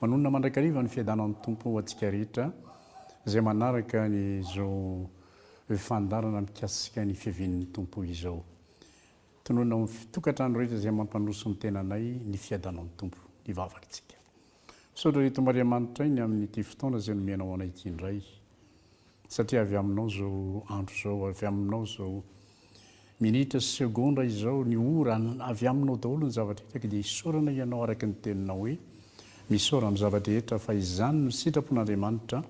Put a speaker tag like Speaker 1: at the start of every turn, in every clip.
Speaker 1: Manonona mandrakariva ny fiadanan'ny Tompo ho antsika rehetra izay manaraka izao fandaharana mikasika ny fiavian'ny Tompo izao. Tononina ho an'ny tokantrano rehetra izay mampanoso ny tenanay ny fiadanan'ny Tompo ny vavakantsika. Misaotra ry Tomariamanitra ainy amin'ity fotoana izay nomena ho anay ity indray. Satria avy aminao izao andro izao, avy aminao izao minitra sy segondra izao, ny ora, avy aminao daholo ny zava-drehetra, dia isaorana Ianao araka ny Teninao hoe, Misaora amin'ny zava-drehetra fa izany no sitrapon'Andriamanitra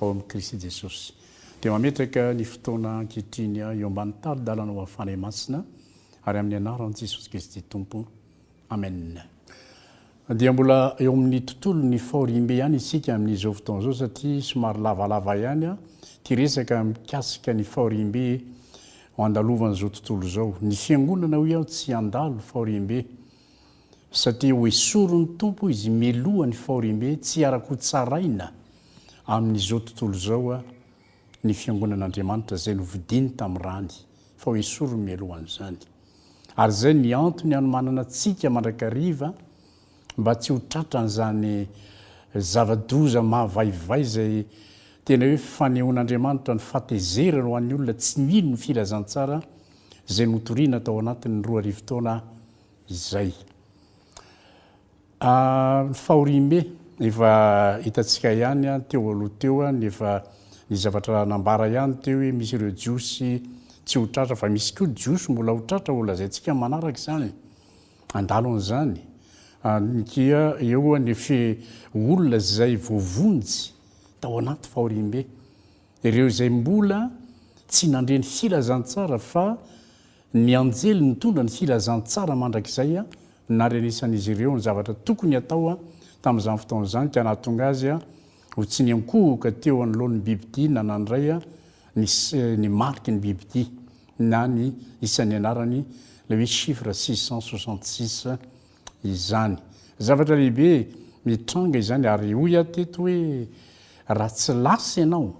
Speaker 1: ao amin'i Kristy Jesosy. Dia mametraka ny fotoana ankehitriny aho eo ambany tari-dalanao hafana Imasina, ary amin'ny Anaran'i Jesosy Kristy Tompo. Amen. Dia mbola eo amin'ny tontolon'ny fahoriambe ihany isika amin'izao fotoana izao satria somary lavalava ihany ity resaka mikasika ny fahoriambe andalovan'izao tontolo izao. Ny fiangonana hoy aho tsy handalo fahoriambe satria hoesorin'ny Tompo izy mialoha ny fahoriambe tsy ara-kotsaraina amin'izao tontolo izao ny fiangonan'Andriamanitra izay novidiny tamin'ny rany fa hoesoriny mialohan'izany. Ary izay ny antony hanomanana antsika mandrakariva mba tsy ho tratran'izany zava-doza mahavaivay izay tena hoe fanehoan'Andriamanitra ny fahatezerany ho an'ny olona tsy mino ny filazantsara izay notoriana tao anatin'ny roa arivo taona izay. Ary fahoriambe, efa hitantsika ihany teo aloha teo ny efa ny zavatra nambara ihany teo hoe misy ireo jiosy tsy ho tratra fa misy koa jiosy mbola ho tratra ho lazaintsika manaraka izany, handalo an'izany ny kia eo ny fe olona izay voavonjy tao anaty fahoriambe, ireo izay mbola tsy nandre ny filazantsara fa Ny anjely nitondra ny filazantsara mandrakizay narenesan'izy ireo ny zavatra tokony hatao tamin'izany fotoana izany ka nahatonga azy ho tsy niankohoka teo anoloan'ny bibidia na nandray ny ny mariky ny bibidia na ny isan'ny anarany, ilay hoe chiffre six cent soixante six izany. Zavatra lehibe mitranga izany ary hoy aho teto hoe raha tsy lasa ianao,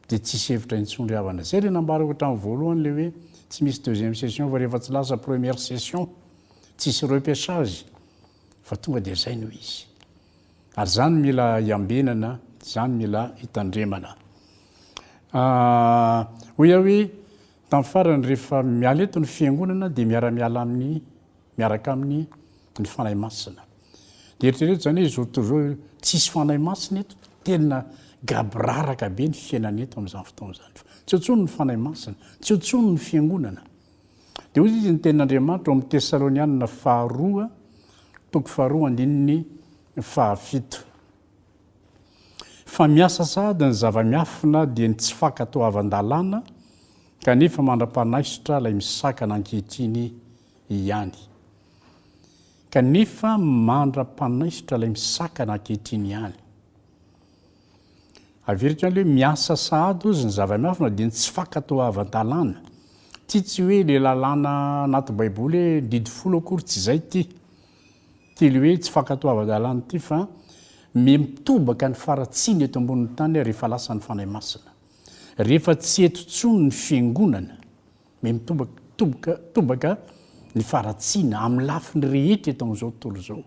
Speaker 1: Dia tsisy hevitra intsony ry havana. Zay le nambarako hatramin'ny voalohany le hoe tsy misy deuxième session fa rehefa tsy lasa première session tsisy repechage fa tonga dia zay no izy. Ary zany mila iambenana, zany mila itandremana. Hoy aho hoe tamin'ny farany rehefa miala eto ny fiangonana dia miara-miala amin'ny miaraka aminy ny Fanahy Masina dia eritrereto zany hoe zao tontolo zao tsisy Fanahy Masina eto tena gaboraraka be ny fiainana eto amzany fotoana zany fa tsy eo tsony ny Fanahy Masina tsy eo tsony ny fiangonana dia hoy izy ny tenin'Andriamanitra ao amin'ny Tesalonianina faharoa toko faharoa andininy fahafito fa miasa sahady ny zava-miafina dia ny tsy fankatoavan-dalàna kanefa mandra-panaisotra ilay misakana ankehitriny ihany. Kanefa mandra-panaisotra ilay misakana ankehitriny ihany. Averiko ihany hoe miasa sahady ozy ny zava-miafina dia ny tsy fankatoavan-dalàna. Ity tsy hoe ilay lalàna anaty baiboly hoe didy folo akory tsy izay ity. Ity ilay hoe tsy fankatoavan-dalàna ity fa miha mitobaka ny faratsiana eto ambonin'ny tany rehefa lasa ny Fanahy Masina. Rehefa tsy eto intsony ny fiangonana. Mey mitomboka ny faharatsiana amin'ny lafiny rehetra eto amin'izao tontolo izao.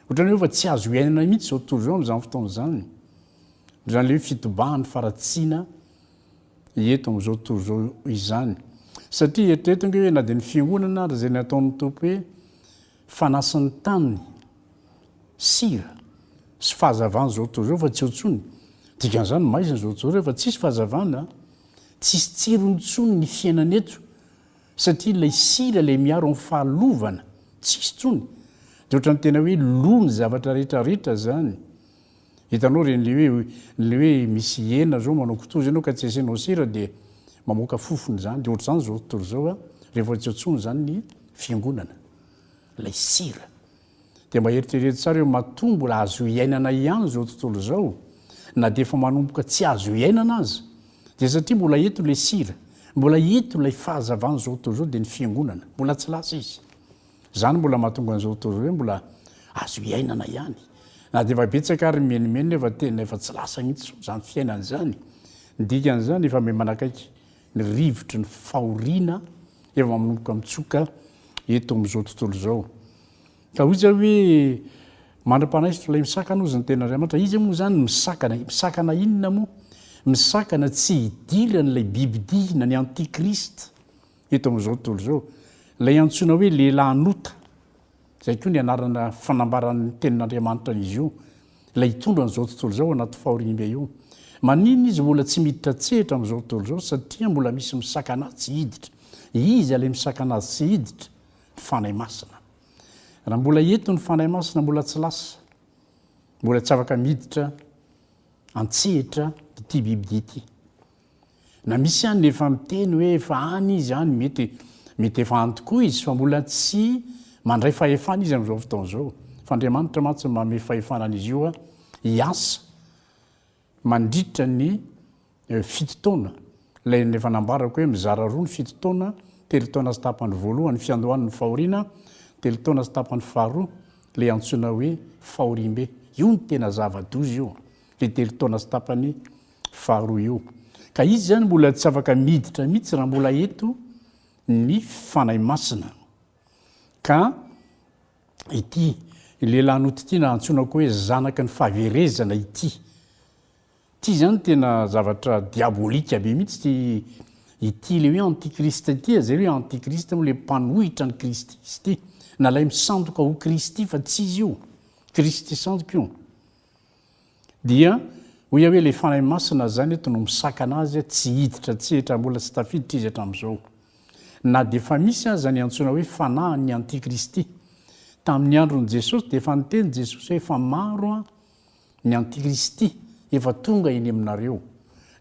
Speaker 1: Ohatran'ny hoe efa tsy azo iainana mihitsy izao tontolo izao amin'izany fotoana izany. Izany ilay hoe fitobahan'ny faharatsiana eto amin'izao tontolo izao izany. Satria eritrereto ange hoe na dia ny fiangonana ary izay nataon'ny Tompo hoe Fanasin'ny tany, sira, sy fahazavana izao tontolo izao fa tsy eo intsony. Dikan'izany, maizina izao tontolo izao fa tsisy fahazavana, tsisy tsirony intsony ny fiainana eto satria ilay sira ilay miaro amin'ny fahalovana, tsisy intsony. Dia ohatran'ny tena hoe lo ny zavatra rehetra rehetra izany. Hitanao reny le hoe le hoe misy hena zao manao kitoza enao ka tsy asianao sira dia mamoaka fofona zany de ohatr'izany zao tontolo izao a rehefa tsy antsoina zany ny fiangonana lay sira de mba eritrerety tsara hoe matoa mbola azo iainana ihany zao tontolo izao na de efa manomboka tsy azo iainana aza de satria mbola eto le sira mbola eto lay fahazavan'izao tontolo izao de ny fiangonana mbola tsy lasa izy Izany mbola mahatonga an'izao tontolo izao hoe mbola azo iainana ihany. Na dia efa betsaka ary ny menomenona nefa tena efa tsy lasa mihitsy izao izany fiainana izany. Ny dikan'izany, efa miha-manakaiky ny rivotry ny fahoriana efa manomboka mitsoka eto amin'izao tontolo izao. Ka hoy zao hoe, Mandra-panahy izy tolay misakana hozy ny Tenin'Andriamanitra. Iza moa izany no misakana? Misakana inona moa? Misakana tsy hidiran'ilay bibi-dihina, ny antikristy. Eto amin'izao tontolo izao, ilay antsoina hoe lehilahin'ota, izay koa ny anarana fanambaran'ny Tenin'Andriamanitra an'izy io, ilay hitondra an'izao tontolo izao anaty fahoriambe io. Maninona izy mbola tsy miditra an-tsehatra amin'izao tontolo izao? Satria mbola misy misakana azy tsy hiditra. Iza ilay misakana azy tsy hiditra? Ny Fanahy Masina. Raha mbola eto ny Fanahy Masina, mbola tsy lasa, mbola tsy afaka miditra an-tsehatra ity bibidia ity. Na misy any efa miteny hoe efa any izy any, mety mety efa any tokoa izy fa mbola tsy mandray fahefana izy amin'izao fotoana izao. Fa Andriamanitra mantsy no manome fahefana an'izy io hiasa mandritra ny fito taona. Ilay efa nambarako hoe mizara roa ny fito taona, telo taona sy tapany voalohany fiandohan'ny fahoriana, telo taona sy tapany faharoa ilay antsoina hoe fahoriambe. Io no tena zava-doza io, ilay telo taona sy tapany faharoa io. Ka izy izany mbola tsy afaka miditra mihitsy raha mbola eto ny Fanahy Masina. Ka ity lehilahy nototiana antsoina koa hoe zanaky ny fahaverezana ity. Ity izany tena zavatra diabolika be mihitsy ity ity le hoe antikrista ity izay hoe antikrista moa le mpanohitra ny Kristy izy ity. Na ilay misandoka ho Kristy fa tsy izy io. Kristy sandoka io. Dia hoy aho hoe ilay Fanahy Masina izany eto no misakana azy tsy hiditra an-tsehatra, mbola tsy tafiditra izy hatramin'izao. Na dia efa misy aza ny antsoina hoe fanahin'ny antikristy. Tamin'ny andron'i Jesosy dia efa niteny Jesosy hoe efa maro ny antikristy efa tonga eny aminareo.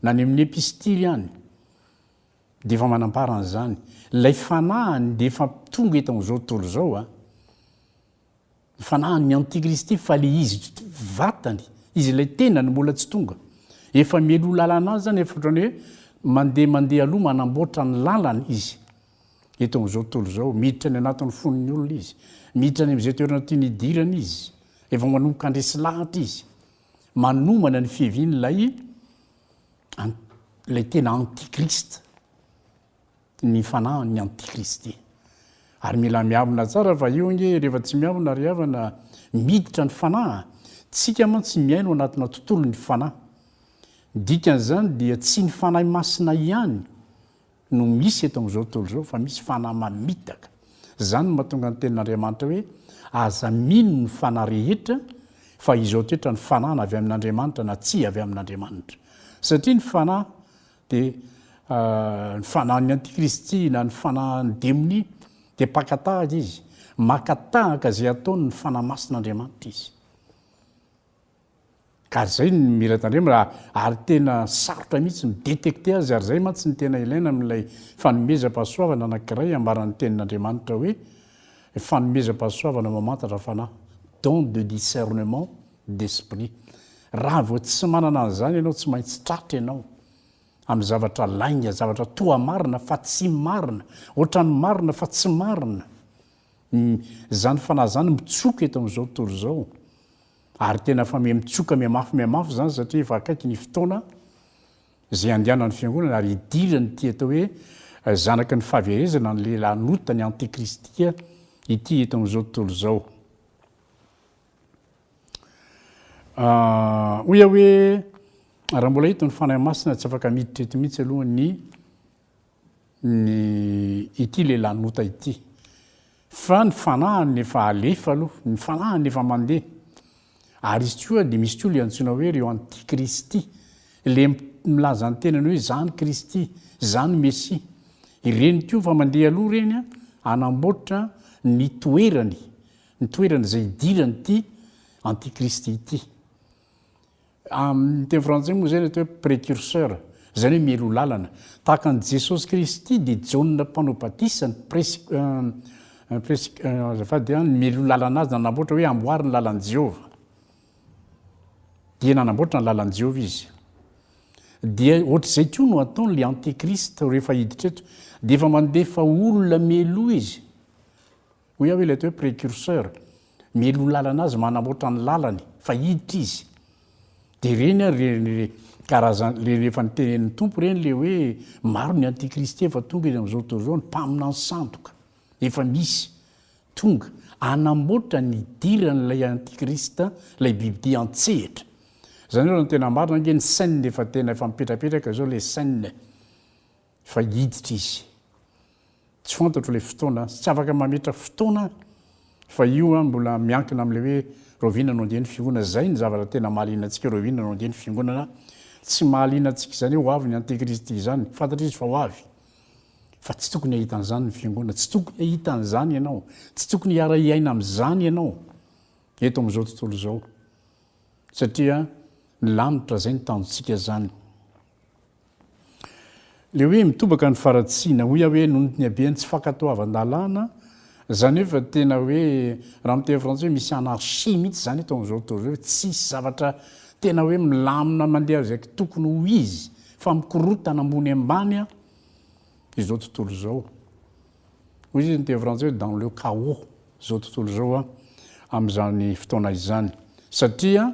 Speaker 1: Na ny amin'ny epistily any dia efa manambara an'izany. Ilay fanahiny dia efa tonga eto amin'izao tontolo izao. Ny fanahiny ny antikristy fa le izy vatany, izy ilay tenany mbola tsy tonga. Efa mialoha lalana azy zany efa otrany hoe mandeha mandeha aloha manamboatra ny lalany izy eto amin'izao tontolo izao. Miditra any anatin'ny fon'ny olona izy. Miditra any amin'izay toerana tiany hidirana izy. Efa manomboka handresy lahatra izy. Manomana ny fiavian'ilay ilay tena antikristy. ny fanahin' ny antikristy. Ary mila miavona tsara fa io ange rehefa tsy miavona ry havana miditra ny fanahy a! Tsika mantsy miaino anatina tontolo ny fanahy. Ny dikan' izany dia tsy ny Fanahy Masina ihany no misy eto amin'izao tontolo izao fa misy fanahy mamitaka. Izany no mahatonga ny tenin' Andriamanitra hoe aza mino ny fanahy rehetra fa izao toetra ny fanahy na avy amin' Andriamanitra na tsy avy amin' Andriamanitra. Satria ny fanahy Dia ny fanahin'ny antikristy na ny fanahin'ny demonia dia mpaka tahaka izy, maka tahaka izay ataony ny fanahy masin'Andriamanitra izy. Ka ary izay ny mila tandremana, ary tena sarotra mihitsy ny détecter azy, ary izay mantsy ny tena ilaina amin'ilay fanomezam-pahasoavana anankiray ambaran'ny tenin'Andriamanitra hoe fanomezam-pahasoavana mamantatra fanahy, don de discernement d'esprit. Raha vao tsy manana an'izany ianao tsy maintsy tratra ianao amin'ny zavatra lainga, zavatra toa marina fa tsy marina, ohatran'ny marina fa tsy marina. Izany fanahy izany mitsoka eto amin'izao tontolo izao ary tena fa miha-mitsoka mihamafy mihamafy izany satria efa akaiky ny fotoana izay handehanan'ny fiangonana ary hidiran'ity atao hoe eh, zanaky ny fahaverezana ny lehilahin'ota ny antikristia ity eto amin'izao tontolo izao. Hoy aho hoe, raha mbola hita ny Fanahy Masina, tsy afaka miditra eto mihitsy aloha ny ny ity lehilahy nota ity. Fa ny Fanahiny efa alefa aloha, ny Fanahiny efa mandeha. Ary izy koa dia misy koa ilay antsoina hoe ireo antikristy, ilay milaza ny tenany hoe izaho no Kristy, izaho no Mesia. Ireny koa efa mandeha aloha ireny hanamboatra ny toerany ny toerana izay hidiran'ity antikristy ity. Amin'ny teny frantsay moa izay ny atao hoe precurseur, izany hoe mialoha lalana. Tahaka an'i Jesosy Kristy dia Jaona mpanao batisa ny pres, eh, pres, eh, azafady an, ny mialoha lalana azy nanamboatra hoe amboary ny lalan'i Jehovah. Dia nanamboatra ny lalan'i Jehovah izy. Dia ohatr'izay koa no ataon'ilay antikristy rehefa hiditra eto. Dia efa mandefa olona mialoha izy. Hoy aho ilay toe precurseur mialoha lalana azy manamboatra ny lalany fa hiditra izy dia ireny ary ireny karazana ireny efa nitenenin'ny tompo ireny ilay hoe maro ny antikristy efa tonga izy amin'izao tontolo izao ny mpaminany sandoka efa misy tonga anamboatra ny hidiran'ilay antikristy ilay bibidia an-tsehatra izany hoe raha ny tena marina ange ny scène efa tena efa mipetrapetraka izao ilay scène Fa hiditra izy. Tsy fantatro ilay fotoana, tsy afaka mametra fotoana aho fa io an mbola miankina amin'ilay hoe rahoviana no handeha ny fiangonana, izay ny zavatra tena mahaliana antsika hoe rahoviana no handeha ny fiangonana, tsy mahaliana antsika izany hoe ho avy ny antekristy izany, fantatra izy fa ho avy, fa tsy tokony hahita an'izany ny fiangonana, tsy tokony hahita an'izany ianao, tsy tokony hiara-hiaina amin'izany ianao eto amin'izao tontolo izao satria ny lanitra izay no tanjontsika izany. Ilay hoe mitobaka ny faratsiana, hoy aho hoe noho ny haben'ny tsy fankatoavan-dalàna, izany hoe efa tena hoe, raha amin'ny teny frantsay hoe misy anarchie mihitsy izany eto amin'izao tontolo izao, tsisy zavatra tena hoe milamina mandeha izay tokony ho izy fa mikorontana ambony ambany izao tontolo izao. Hoy isika ny teny frantsay hoe dans le chaos izao tontolo izao amin'izany fotoana izany satria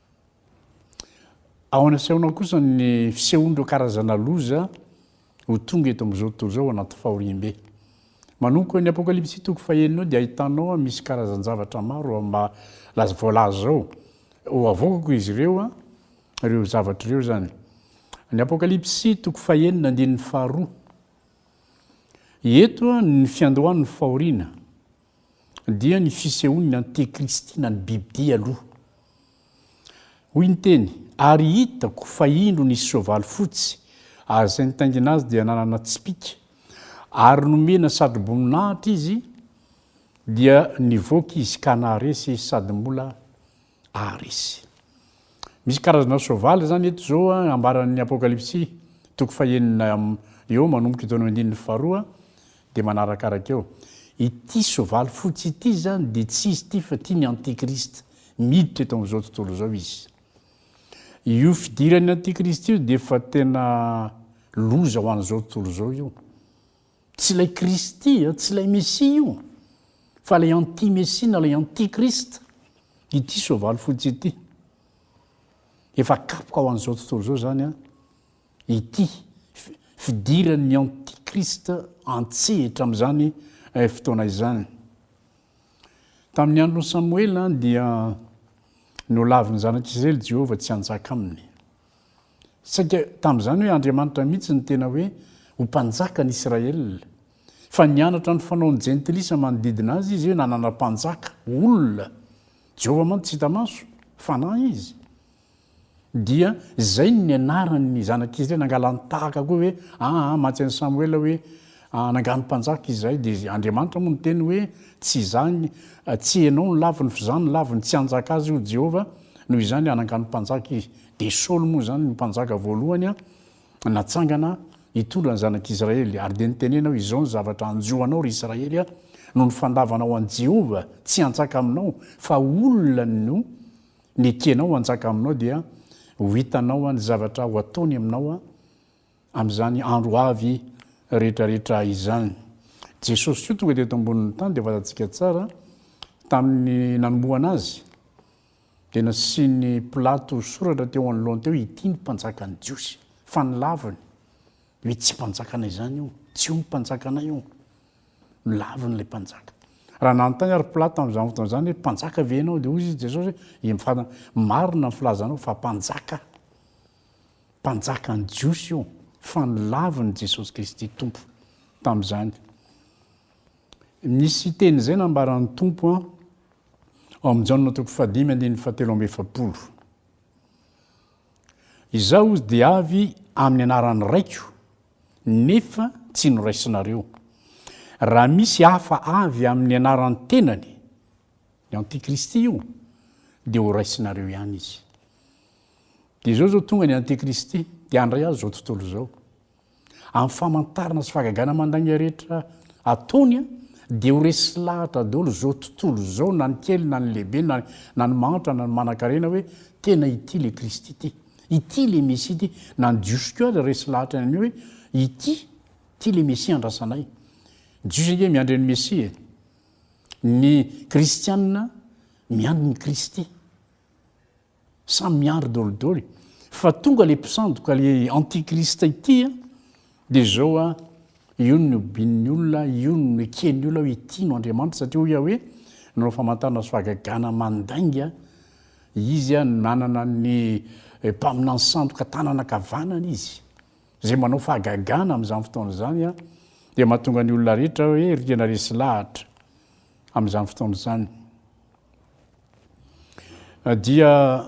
Speaker 1: Ao anasehonao kosa ny fisehon'ireo karazana loza ho tonga eto amin'izao tontolo izao ao anaty fahoriambe. Manomboka eo ny Apokalypsy toko fahenina eo dia ahitanao a misy karazan-javatra maro amin'ny maha voalaza izao. Ho avoakako izy ireo a, ireo zavatra ireo izany. Ny Apokalypsy toko fahenina andininy faharoa. Eto a ny fiandohan'ny fahoriana. dia ny fisehoan'ny antekristy na ny bibidia aloha. Hoy ny teny, Ary hitako fa indro nisy soavaly fotsy, ary izay nitaingina azy dia nanana tsipìka, ary nomena satroboninahitra izy, dia nivoaka izy ka naharesy sady mbola Ary izy. Misy karazana soavaly izany eto izao ambaran'ny Apokalypsy toko fahenina eo manomboka eto amin'ny andininy faharoa dia manarakaraka eo. Ity soavaly fotsy ity izany dia tsy izy ity fa ity ny antikristy. Miditra eto amin'izao tontolo izao izy. Io fidiran'ny antikristy io dia efa tena loza ho an'izao tontolo izao io. Tsy ilay Kristy, tsy ilay Mesia io, fa ilay anti-Mesia na ilay anti-Christ ity soavaly fotsy ity. Efa kapoka ho an'izao tontolo izao izany an, ity fidiran'ny anti-Christ an-tsehatra amin'izany eh, fotoana izany. Tamin'ny andron'i Samoela dia nolavin'ny zanak'Israely Jehovah tsy hanjaka aminy. Saika tamin'izany hoe Andriamanitra mihitsy no tena hoe ho mpanjakan'i Israel. Fa nianatra ny fanaon'ny jentilisa manodidina azy izy hoe nanana mpanjaka, olona. Jehovah mantsy tsy hita maso, fanahy izy. Dia izay no nianaran'ny zanak'i Israel, nangalan-tahaka koa hoe, aa, matsy an'i Samoela hoe, Anangano mpanjaka izahay dia Andriamanitra moa niteny hoe, Tsy izaho ny, tsy ianao no laviny fa izaho no laviny. Tsy hanjaka azy io Jehovah. Noho izany, anangano mpanjaka izy. Dia Saoly moa izany no mpanjaka voalohany natsangana hitondra ny zanak'Israely. Ary dia nitenena hoe, Izao ny zavatra hanjo anao, ry Israely a, noho ny fandavanao an'i Jehovah tsy hanjaka aminao, fa olona no nekenao hanjaka aminao, dia ho hitanao ny zavatra ho ataony aminao. amin'izany andro avy rehetrarehetra izany. Jesosy koa tonga teto ambonin'ny tany dia fantatsika tsara tamin'ny nanombohana azy dia nasian'ny Pilato soratra teo anoloany teo ity ny mpanjakan'ny Jiosy fa nilaviny hoe tsy mpanjakana izany io, tsy io ny mpanjakanay io. Nilaviny ilay mpanjaka. Raha nanontany ary Pilato tamin'izany fotoana izany hoe mpanjaka ve ianao dia hoy izy Jesosy hoe marina ny filazanao fa mpanjaka. Mpanjakan'ny Jiosy io, fa nolavin'i Jesosy Kristy Tompo tamin'izany. Misy teny izay nambaran'ny Tompo ao amin'ny Jaona toko fahadimy andininy fahatelo amby efapolo. Izaho hozy dia avy amin'ny anaran'ny Raiko, nefa tsy noraisinareo. Raha misy hafa avy amin'ny anaran'ny tenany, ny Antikristy io, dia horaisinareo ihany izy. Dia izao izao tonga ny antikristy dia handray azy izao tontolo izao. Amin'ny famantarana sy fahagagana mandainga rehetra ataony dia ho resy lahatra daholo izao tontolo izao na ny kely na ny lehibe na na ny mahantra na ny manankarena hoe tena ity le kristy ity ity le mesia ity na ny jiosy koa aza resy lahatra ny hoe ity ity le mesia andrasanay jiosy ange miandry ny mesia e ny kristianina miandry ny kristy Samy miandry dolidoly fa tonga le mpisandoka le antikrista ity a! de zao a! io no nihobian'ny olona, io no neken'ny olona hoe ity no Andriamanitra satria hoy Yahweh nanao famantarana sy fahagagana mandainga izy a! nanana ny mpaminany sandoka tanana ankavanana izy zay manao fahagagana amin'izany fotoana izany a! dia mahatonga ny olona rehetra hoe rihana resy lahatra amin'izany fotoana izany. dia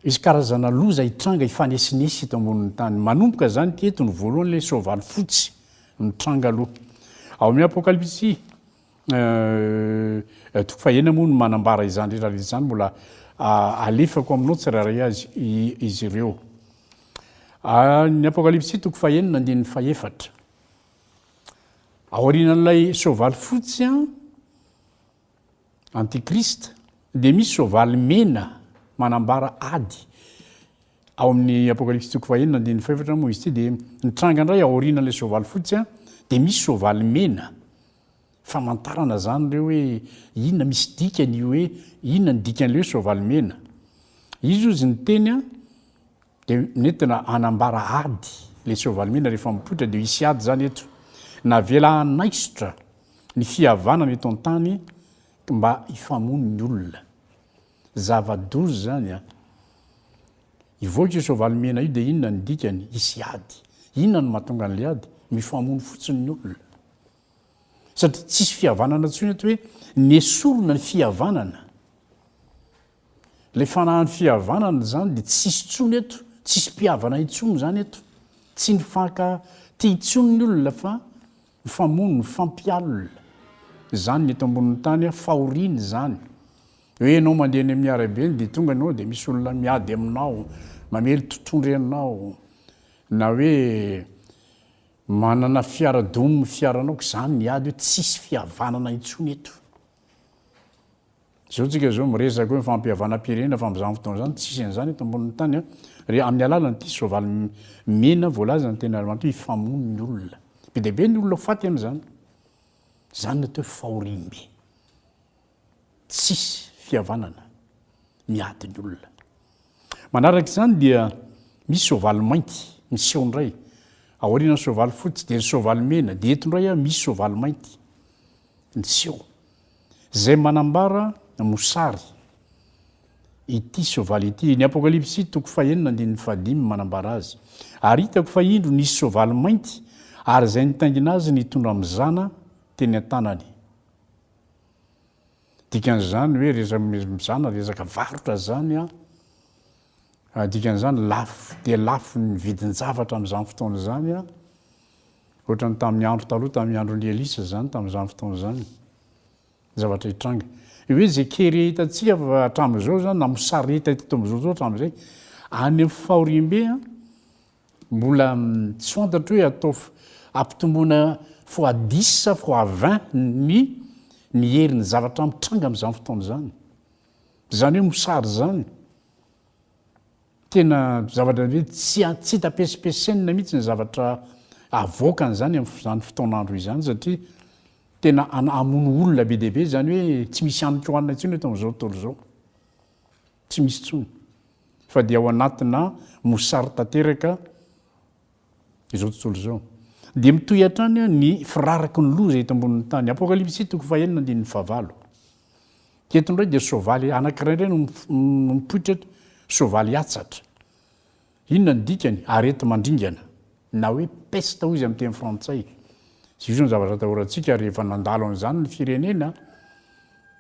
Speaker 1: hisy karazana loza hitranga hifanesinesy eto ambonin'ny tany. Manomboka izany teto ny voalohany ilay soavaly fotsy mitranga aloha. Ao amin'ny Apokalypsy euh, eh, toko fahena moa no manambara izany rehetra izany mbola ah, alefako aminao tsirairay azy izy ireo. Ah, ny Apokalypsy toko fahenina andininy fahefatra. Aorianan'ilay soavaly fotsy an, Antichrist, dia misy soavaly mena manambara ady. Ao amin'ny Apokalypsy toko fahenina andininy fahefatra moa izy ity dia mitranga indray aorianan'ilay soavaly fotsy dia misy soavaly mena. Famantarana izany ireo hoe inona misy dikany io hoe inona ny dikan'ilay hoe soavaly mena. Izy hozy niteny Dia nentina hanambara ady ilay tsy valimena rehefa mipoitra dia hisy ady izany eto. Navela hanaisotra ny fihavanana eto an-tany mba hifamono ny olona. Zava-doza izany an! Hivoaka io soavaly mena io dia inona ny dikany? Hisy ady. Inona no mahatonga an'ilay ady? Mifamono fotsiny ny olona. Satria tsisy fihavanana intsony eto hoe nesorina ny fihavanana. Le fanahan'ny fihavanana izany dia tsisy intsony eto, tsisy mpihavana intsony izany eto, tsy nifanka tia intsony ny olona fa mifamono, mifampialona. Izany ny eto ambonin'ny tany a, fahoriana izany. Hoe ianao mandeha eny amin'ny arabe eny dia tonga ianao dia misy olona miady aminao, mamely totohondry anao, na hoe manana fiara domin'ny fiaranao, k'izany ny ady hoe tsisy fihavanana intsony eto. Zao tsika zao miresaka hoe fampihavanam-pirenena fa amzany fotoana zany tsisy anzany eto ambonin'ny tany a! Re amin'ny alalan'ity soavaly mena voalazan'ny Tenarimantoa hifamono ny olona. Be dia be ny olona ho faty amzany. Zany no atao hoe fahoriambe. Tsisy fihavanana miady ny olona. Manaraka izany dia misy soavaly mainty miseho indray aorianan'ny soavaly fotsy dia ny soavaly mena dia eto indray misy soavaly mainty miseho. izay manambara ny mosary ity soavaly ity. Ny Apokalypsy toko fahenina andininy fahadimy manambara azy. Ary hitako fa indro nisy soavaly mainty, ary izay nitaingina azy nitondra mizana teny an-tanany. Dikan'izany hoe mizana resaka varotra izany an. Dikan'izany lafo dia lafo ny vidin-javatra amin'izany fotoana izany, ohatran'ny tamin'ny andro taloha, tamin'ny andron'i Elisa izany, tamin'izany fotoana izany, ny zavatra hitranga. Io hoe izay kere hitantsika hatramin'izao izany, na mosary hita eto Tombozoro izao hatramin'izay, any amin'ny fahoriambe, mbola tsy fantatro hoe ataovy ampitomboina fois dix sa fois vingt ny ny herin'ny zavatra mitranga amin'izany fotoana izany. Zany hoe mosary zany. Tena zavatra hoe tsy tsy hita pesipesenina mihitsy ny zavatra avoakany zany amin'izany fotoan'andro izany satria tena hamono olona be dia be izany hoe tsy misy haniko hanina intsony eto amin'izao tontolo izao. Tsy misy intsony. Fa dia ao anatina mosary tanteraka izao tontolo izao. Dia mitohy hatrany ny firaraky ny loza eto ambonin'ny tany. Apokalypsy toko fahenina andininy fahavalo. Dia eto indray dia soavaly anankiray indray no no mipoitra eto, soavaly atsatra. Inona ny dikany? Areti-mandringana na hoe peste hoy izy amin'ny teny frantsay. Izy io izany zavatra atahorantsika ary efa nandalo an'izany ny firenena.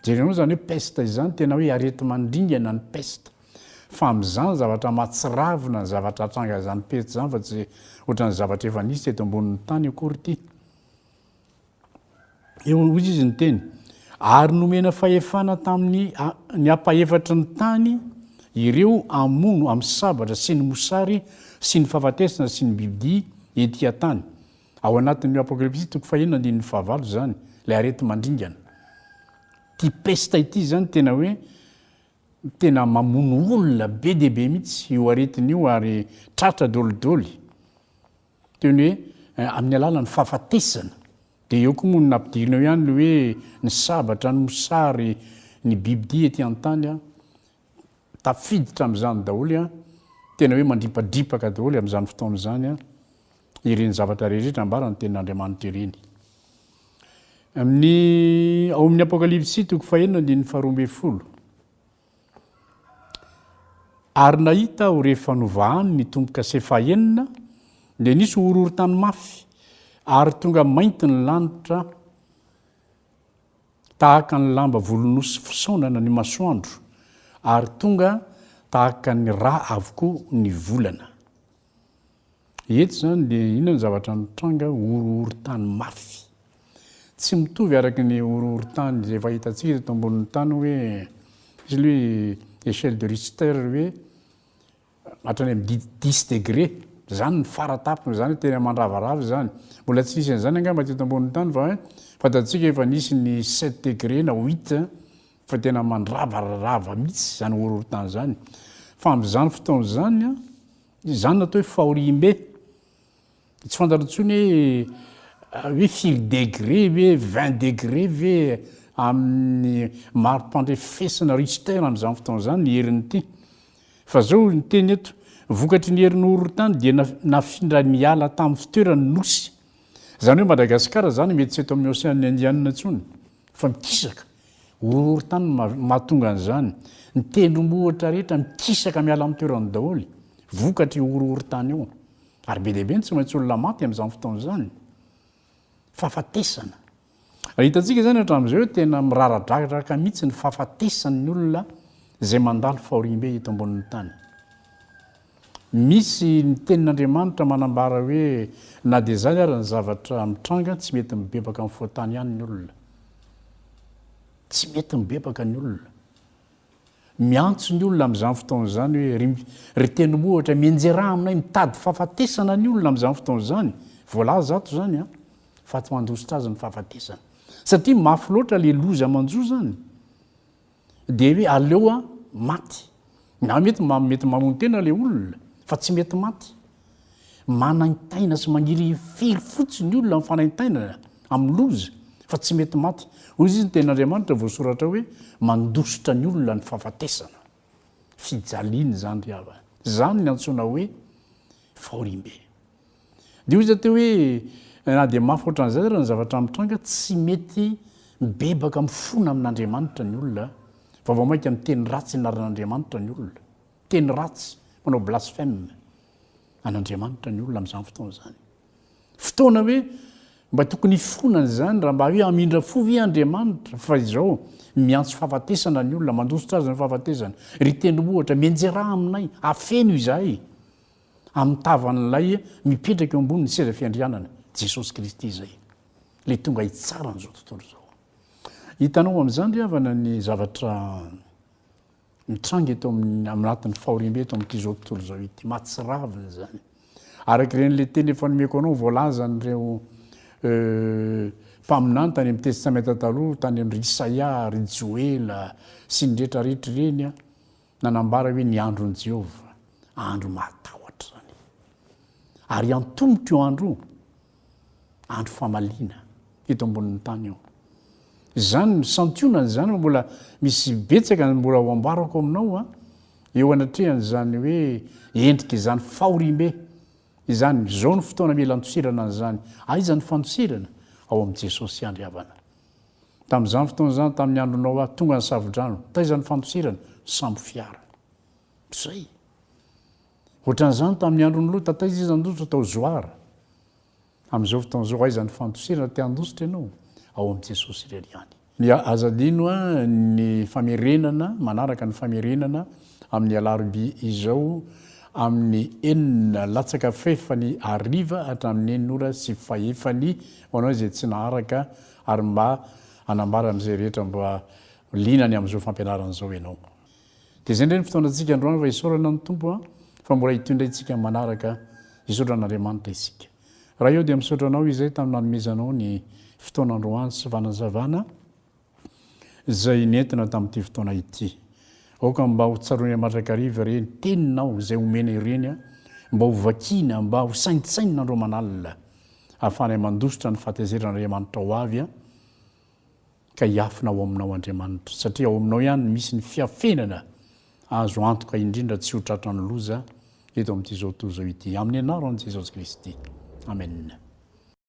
Speaker 1: Jerenao izany hoe peste izany, tena hoe areti-mandringana ny peste. Fa amin'izany zavatra mahatsiravina ny zavatra hatranga izany peste izany fa tsy ohatran'ny zavatra efa nisy teto ambonin'ny tany akory ity. Eo hoy izy niteny, ary nomena fahefana tamin'ny ny ampahefatry ny tany ireo hamono amin'ny sabatra sy ny mosary sy ny fahafatesana sy ny bibidia ety an-tany. Ao anatin'ny Apokalypsy toko fahenina andininy fahavalo izany, ilay areti-mandringana. Ity pesta ity izany tena hoe tena mamono olona be dia be mihitsy io aretina io ary tratra dolidoly. Teo ny hoe amin'ny alalan'ny fahafatesana. Dia eo koa moa no nampidirina eo ihany ny hoe ny sabatra, ny mosary, ny bibidia ety an-tany. Tafiditra amin'izany daholo an, tena hoe mandripadripaka daholo amin'izany fotoana izany ireny zavatra rehetra ambaran'ny tenin'Andriamanitra ireny. Amin'ny ao amin'ny Apokalypsy toko fahenina andininy faharoa ambin'ny folo. Ary nahita aho rehefa novahany ny tombo-kase fahenina dia nisy horohorontany mafy ary tonga mainty ny lanitra tahaka ny lamba volonosy fisaonana ny masoandro ary tonga tahaka ny ra avokoa ny volana. Eto izany dia inona ny zavatra mitranga? Horohorontany mafy. Tsy mitovy araka ny horohorontany izay efa hitantsika teto ambonin'ny tany hoe misy aloha échelle de Richter hoe hatrany amin'ny dix dix degré. Izany ny fara-tampony, izany no tena mandravarava izany. Mbola tsy nisy an'izany angamba teto ambonin'ny tany fa fantatsika efa nisy ny sept degré na huit. Fa tena mandravararava mihitsy izany horohorontany izany. Fa amin'izany fotoana izany, izany no atao hoe fahoriambe. Tsy fantatro intsony hoe hoe firy degré ve, vingt degré ve amin'ny mari-pandrefesana Richter amin'izany fotoana izany ny herin'ity. Fa izao ny teny eto, vokatry ny herin'ny horohorontany dia nafindra niala tamin'ny fitoerany ny nosy. Izany hoe Madagasikara izany mety tsy eto amin'ny Ocean Indiana intsony fa mikisaka. Horohorontany no mahatonga an'izany. Ny tendrombohitra rehetra mikisaka miala amin'ny toerany daholo, vokatr'io horohorontany io. Ary be dia be no tsy maintsy olona maty amin'izany fotoana izany. Fahafatesana. Raha hitantsika izany hatramin'izao hoe tena miraradraraka mihitsy ny fahafatesan'ny olona izay mandalo fahoriambe eto ambonin'ny tany. Misy ny tenin'Andriamanitra manambara hoe na dia izany ary ny zavatra mitranga tsy mety mibebaka amin'ny foatany ihany ny olona. Tsy mety mibebaka ny olona. Miantso ny olona amin'izany fotoana izany hoe ry, ry tenimohitra, mianjeraha aminay, mitady fahafatesana ny olona amin'izany fotoana izany. Voalaza ato izany an, fa tsy mandositra azy ny fahafatesana. Satria mafy loatra ilay loza manjo izany. Dia hoe aleo aho maty. Nga mety mba mety mamono tena ilay olona fa tsy mety maty. Manaintaina sy maniry hifiry fotsiny olona amin'ny fanaintainana, amin'ny loza fa tsy mety maty. Hoy izy ny tenin'Andriamanitra voasoratra hoe mandositra ny olona ny fahafatesana. Fijaliana izany ry havana. Izany no antsoina hoe fahoriambe. Dia hoy izy aty hoe, Na dia mafy hoatran'izay aza ny zavatra mitranga, tsy mety mibebaka mifona amin'Andriamanitra ny olona, fa vao mainka miteny ratsy anaran'Andriamanitra ny olona. Miteny ratsy, manao blasphème an'Andriamanitra ny olona amin'izany fotoana izany. Fotoana hoe mba tokony hifona an'izany, raha mba hoe hamindra fo ve Andriamanitra fa izao miantso fahafatesana ny olona, mandositra azy ny fahafatesana. Ry Tendrombohitra, mianjera ahy aminay, afeno izahay. amin'ny tavan'ilay mipetraka eo ambonin'ny seza fiandrianana, Jesosy Kristy izay, ilay tonga hitsara an'izao tontolo izao. Hitanao amin'izany ry havana ny zavatra mitranga eto amin'ny anatin'ny fahoriambe eto amin'ity izao tontolo izao ity, mahatsiravina izany. Araka ireny ilay teny efa nomeko anao voalazan'ireo euh, mpaminany tany amin'ny Testamenta Taloha, tany amin'ireo Isaia, ry Joela, sy ny rehetra rehetra ireny, Nanambara hoe ny andron'i Jehovah andro mahatahotra izany, ary hiantombotra io andro io, andro famaliana eto ambonin'ny tany io. Izany no santionany izany, fa mbola misy betsaka ny mbola ho ambarako aminao a, eo anatrehan'izany hoe endrika izany fahoriambe izany. Izao no fotoana mila andosirana an'izany. Aiza ny fandosirana? Ao amin'i Jesosy ihany ry havana. Tamin'izany fotoana izany, tamin'ny andro Noa, tonga ny savodrano. Taiza ny fandosirana? Sambo fiara. Izay. Ohatran'izany tamin'ny andron'i Lota, taiza izy nandositra? Tao Zoara. Amin'izao fotoana izao, aiza ny fandosirana? Te handositra ianao? Ao amin'i Jesosy irery ihany. Dia aza adino ny famerenana, manaraka ny famerenana amin'ny alarobia izao amin'ny enina latsaka fahefany hariva hatramin'ny enina ora sy fahefany Ho anao izay tsy naharaka ary mba hanambara amin'izay rehetra mba liana ny amin'izao fampianarana izao ianao. Dia izay indray ny fotoanantsika androany fa isaorana ny Tompo fa mbola ito indray isika manaraka hisaotra an'Andriamanitra isika. Raha eo dia misaotra anao izay tamin'ny nanomezanao ny fotoana androany sy fanazavana. izay nentina tamin'ity fotoana ity. Aoka mba ho tsaroany aman-drakariva ireny teninao izay omena ireny, mba ho vakiana, mba ho saintsainina andro aman'alina, hahafahany mandositra ny fahatezeran'Andriamanitra ho avy, ka hiafina ao Aminao, Andriamanitra, satria ao Aminao ihany no misy ny fiafenana azo antoka indrindra tsy ho tratran'ny loza eto amin'ity zao tontolo izao ity. Amin'ny anaran'i Jesosy Kristy. Amena.